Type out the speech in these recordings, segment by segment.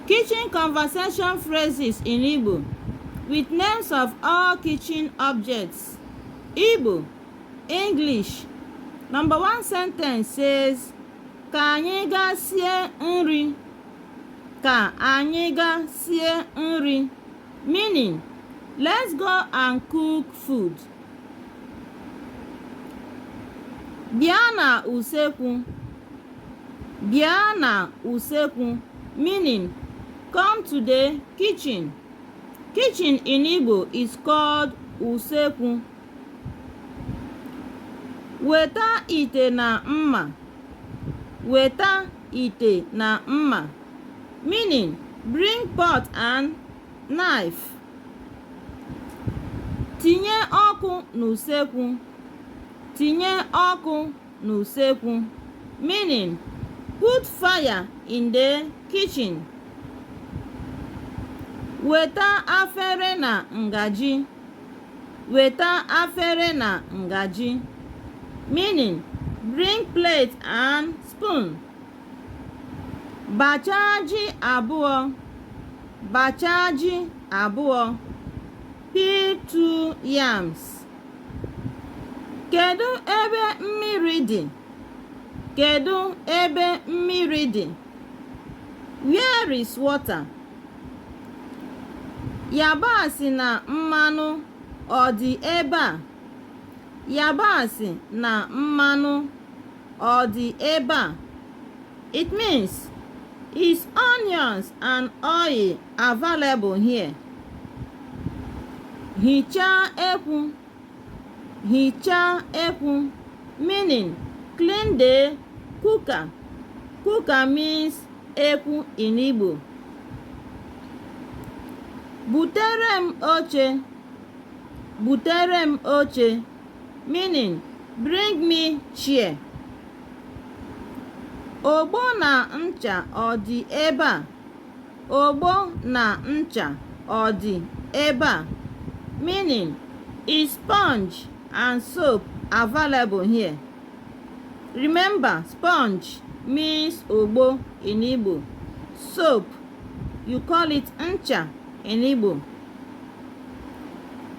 Kitchen conversation phrases in Igbo with names of all kitchen objects. Igbo, English. Number one sentence says, Ka anyị gaa sie nri. Ka anyị gaa sie nri. Meaning, let's go and cook food. Bịa na usekwu. Bịa na usekwu, meaning come to the kitchen. Kitchen in Igbo is called usekwu. Weta ite na mma. Weta ite na mma, meaning bring pot and knife. Tinye ọkụ n'usekwu. Tinye ọkụ n'usekwu meaning put fire in the kitchen weta afere na ngaji weta afere na ngaji meaning bring plate and spoon bachaa ji abụọ bachaa ji abụọ peel two yams Kedu ebe mmiri dị? Kedu ebe mmiri dị? Where is water? Yabasị na mmanụ ọ dị ebe a? Yabasị na mmanụ ọ dị ebe a? It means is onions and oil available here hichaa ekwu hichaa ekwu meaning clean the cooker cooker means ekwu in Igbo butere m oche butere m oche meaning bring me chair ogbo na ncha ọ dị ebe a Ogbo na ncha ọ dị ebe a? Meaning, is sponge and soap available here? Remember, sponge means ogbo in Igbo. Soap, you call it ncha in Igbo.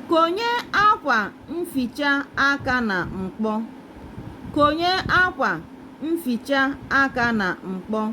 Konye akwa mficha aka na mkpọ. Konye akwa mficha aka na mkpọ.